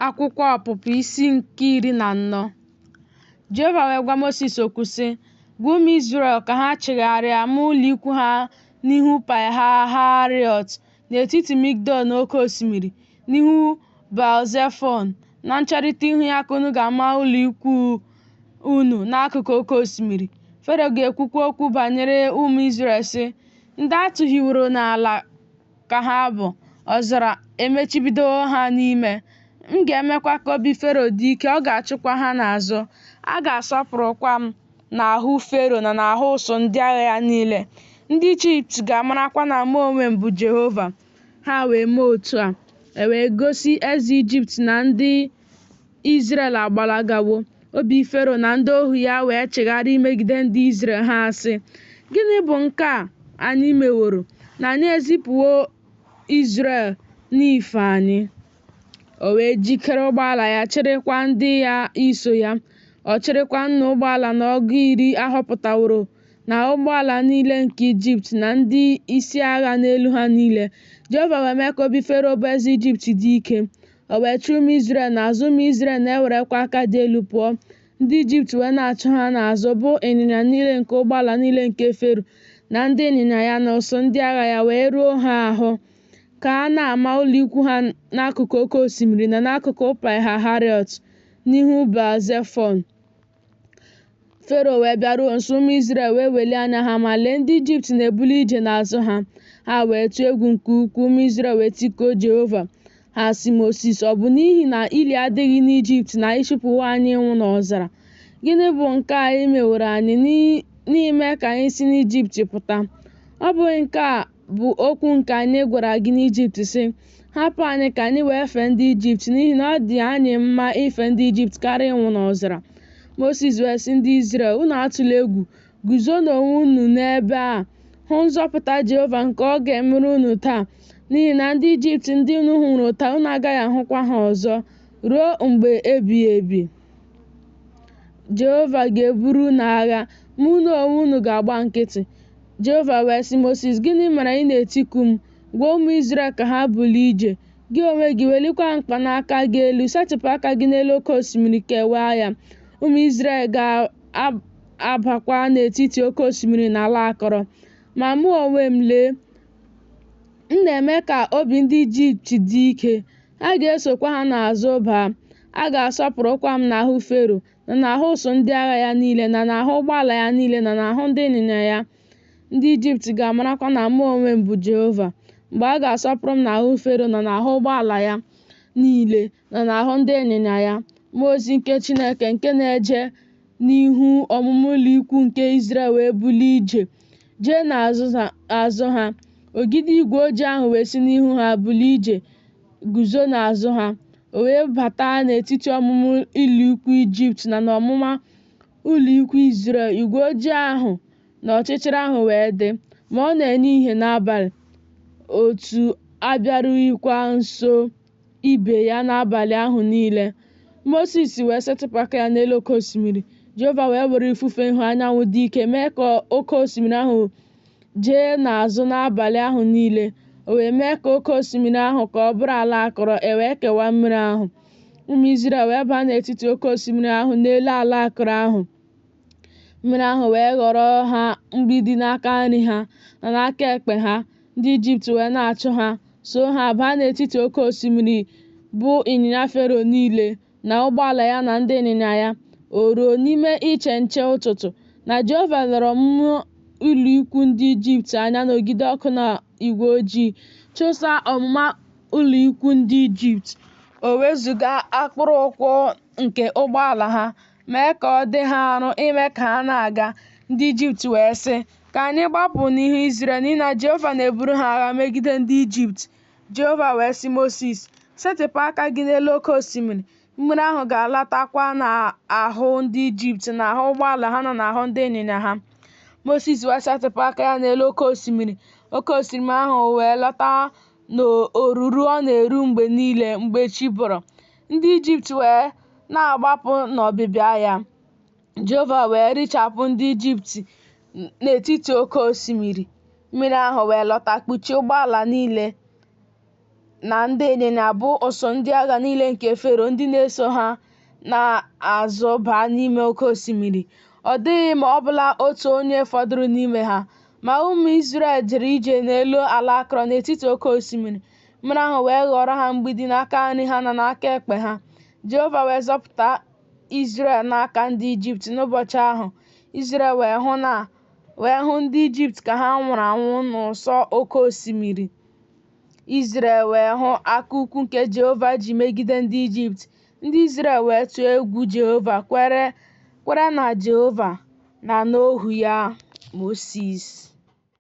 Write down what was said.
akwụkwọ ọpụpụ isi nke iri na anọ jehova wee gwa mosis okwu sị gwa ụmụ izrel ka ha chigharịa ma ụlọikwu ha n'ihu pihahariot n'etiti migdol na oke osimiri n'ihu balzefon na ncherịta ihu ya ka unu ga-ama ụlọikwu unu n'akụkụ oke osimiri fero ga-ekwukwa okwu banyere ụmụ izrel sị ndị a tụhiworo n'ala ka ha bụ, ọzara emechibidowo ha n'ime. M ga-emekwa ka obi Fero dị ike, ọ ga-achụkwa ha n'azụ. A ga-asọpụrụkwa m n'ahụ Fero na n'ahụ ụsụ ndị agha ya niile. Ndị Ijipt ga-amarakwa na mụ onwe m bụ Jehova. Ha wee mee otu a. E wee gosi eze Ijipt na ndị Izrel agbalagawo. Obi Fero na ndị ohu ya wee chigharịa imegide ndị Izrel ha sị, Gịnị bụ nke a anyị meworo na anyị ezipụwo Izrel n'ife anyị? O wee jikere ụgbọala ya chịrịkwa ndị ya iso ya. Ọ chịrịkwa nnụ ụgbọala na ọgụ iri a họpụtaworo na ụgbọala niile nke Ijipt na ndị isi agha n'elu ha niile. Jehova wee mee ka obi Fero bụ eze Ijipt dị ike. O wee chụọ ụmụ Izrel n'azụ, ụmụ Izrel na-ewerekwa aka dị elu pụọ. Ndị Ijipt wee na-achụ ha n'azụ, bụ ịnyịnya niile nke ụgbọala niile nke Fero na ndị ịnyịnya ya na ụsụ ndị agha ya wee ruo ha ahụ, ka ha na-ama ụlọ ikwu ha n'akụkụ oke osimiri na n'akụkụ Paịhahariot, n'ihu Baal-Zefọn. fero wee bịaruo nso ụmụ Izrel wee welie anya ha ma lee ndị ijipt na-ebuli ije n'azụ ha ha wee tụọ egwu nke ukwuu ụmụ Izrel wee tikuo jehova ha sị mosis ọ bụ n'ihi na ili adịghị n'ijipt na ị chịpụwo anyị ịnwụ n'ọzara gịnị bụ nke a i meworo anyị n'ime ka anyị si n'ijipt pụta ọ bụghị nke a bụ okwu nke anyị gwara gị n'Ijipt sị, Hapụ anyị ka anyị wee fee ndị Ijipt, n'ihi na ọ dị anyị mma ife ndị Ijipt karịa ịnwụ n'ọzara. Mosis wee sị ndị Izrel, Unu atụla egwu, guzonụ onwe unu n'ebe a, hụ nzọpụta Jehova nke ọ ga-emere unu taa, n'ihi na ndị Ijipt ndị unu hụrụ taa unu agaghị ahụkwa ha ọzọ ruo mgbe ebighị ebi. Jehova ga-eburu unu agha, ma unu onwe unu ga-agba nkịtị. Jehova wee sị Mosis, Gịnị mere ị na-etiku m? Gwa ụmụ Izrel ka ha bulie ije. Gị onwe gị welikwa mkpanaka gị elu, setịpụ aka gị n'elu oke osimiri kewaa ya. Ụmụ Izrel ga-abakwa n'etiti oke osimiri n'ala akọrọ. Ma mụ onwe m lee, m na-eme ka obi ndị Ijipt dị ike, ha ga-esokwa ha n'azụ baa. A ga-asọpụrụkwa m n'ahụ Fero, na n'ahụ ụsụ ndị agha ya niile na n'ahụ ụgbọala ya niile na n'ahụ ndị ịnyịnya ya ndị ijipt ga-amarakwa na mụ onwe m bụ jehova mgbe a ga-asọpụrụ m n'ahụ fero na n'ahụ ụgbọala ya niile na n'ahụ ndị ịnyịnya ya mmụọ ozi nke chineke nke na-eje n'ihu ọmụma ụlọ ikwu nke izrel wee bulie ije jee n'azụ ha ogidi igwe ojii ahụ wee si n'ihu ha bulie ije guzo n'azụ ha o wee bata n'etiti ọmụma ụlọikwuu ijipt na n'ọmụma ụlọikwuu izrel igwe ojii ahụ na ọchịchịrị ahụ wee dị ma ọ na-enye ihe n'abalị otu abịarughịkwa nso ibe ya n'abalị ahụ niile mosis wee setịpụ aka ya n'elu oke osimiri jehova wee were ifufe ihu anyanwụ dị ike mee ka oke osimiri ahụ jee n'azụ n'abalị ahụ niile o wee mee ka oke osimiri ahụ ka ọ bụrụ ala akọrọ e wee kewaa mmiri ahụ ụmụ Izrel wee baa n'etiti oke osimiri ahụ n'elu ala akọrọ ahụ mmiri ahụ wee ghọrọ ha mgbidi n'aka nri ha na n'aka ekpe ha ndị Ijipt wee na-achụ ha so ha baa n'etiti oke osimiri bụ ịnyịnya Fero niile na ụgbọala ya na ndị ịnyịnya ya, o ruo n'ime iche nche ụtụtụ, na Jehova lere ọmụma ụlọikwuu ndị Ijipt anya n'ogidi ọkụ na igwe ojii, chụsaa ọmụma ụlọikwuu ndị Ijipt, o wezụga akpụrụ ụkwụ nke ụgbọala ha, mee ka ọ dị ha arụ ime ka ha na-aga. Ndị Ijipt wee sị, Ka anyị gbapụ n'ihu Izrel, n'ihi na Jehova na-eburu ha agha megide ndị Ijipt. Jehova wee sị Mosis, Setịpụ aka gị n'elu oke osimiri, mmiri ahụ ga-alatakwa n'ahụ ndị Ijipt n'ahụ ụgbọala ha na n'ahụ ndị ịnyịnya ha. Mosis wee setịpụ aka ya n'elu oke osimiri, oke osimiri ahụ wee lọta n'oruru ọ na-eru mgbe niile mgbe chi bọrọ. Ndị Ijipt wee na-agbapụ n'ọbịbịa ya. Jehova wee richapụ ndị Ijipt n'etiti oke osimiri, mmiri ahụ wee lọta kpuchie ụgbọala niile na ndị ịnyịnya bụ ụsụ ndị agha niile nke Fero ndị na-eso ha n'azụ baa n'ime oke osimiri. Ọ dịghị ma ọ bụla otu onye fọdụrụ n'ime ha. Ma ụmụ Izrel jere ije n'elu ala akọrọ n'etiti oke osimiri, mmiri ahụ wee ghọọrọ ha mgbidi n'aka nri ha na n'aka ekpe ha. Jehova wee zọpụta Izrel n'aka ndị Ijipt n'ụbọchị ahụ, Izrel wee hụ na wee hụ ndị Ijipt ka ha nwụrụ anwụ n'ụsọ oke osimiri. Izrel wee hụ aka ukwu nke Jehova ji megide ndị Ijipt. Ndị Izrel wee tụọ egwu Jehova kwere na Jehova na n'ohu ya Mosis.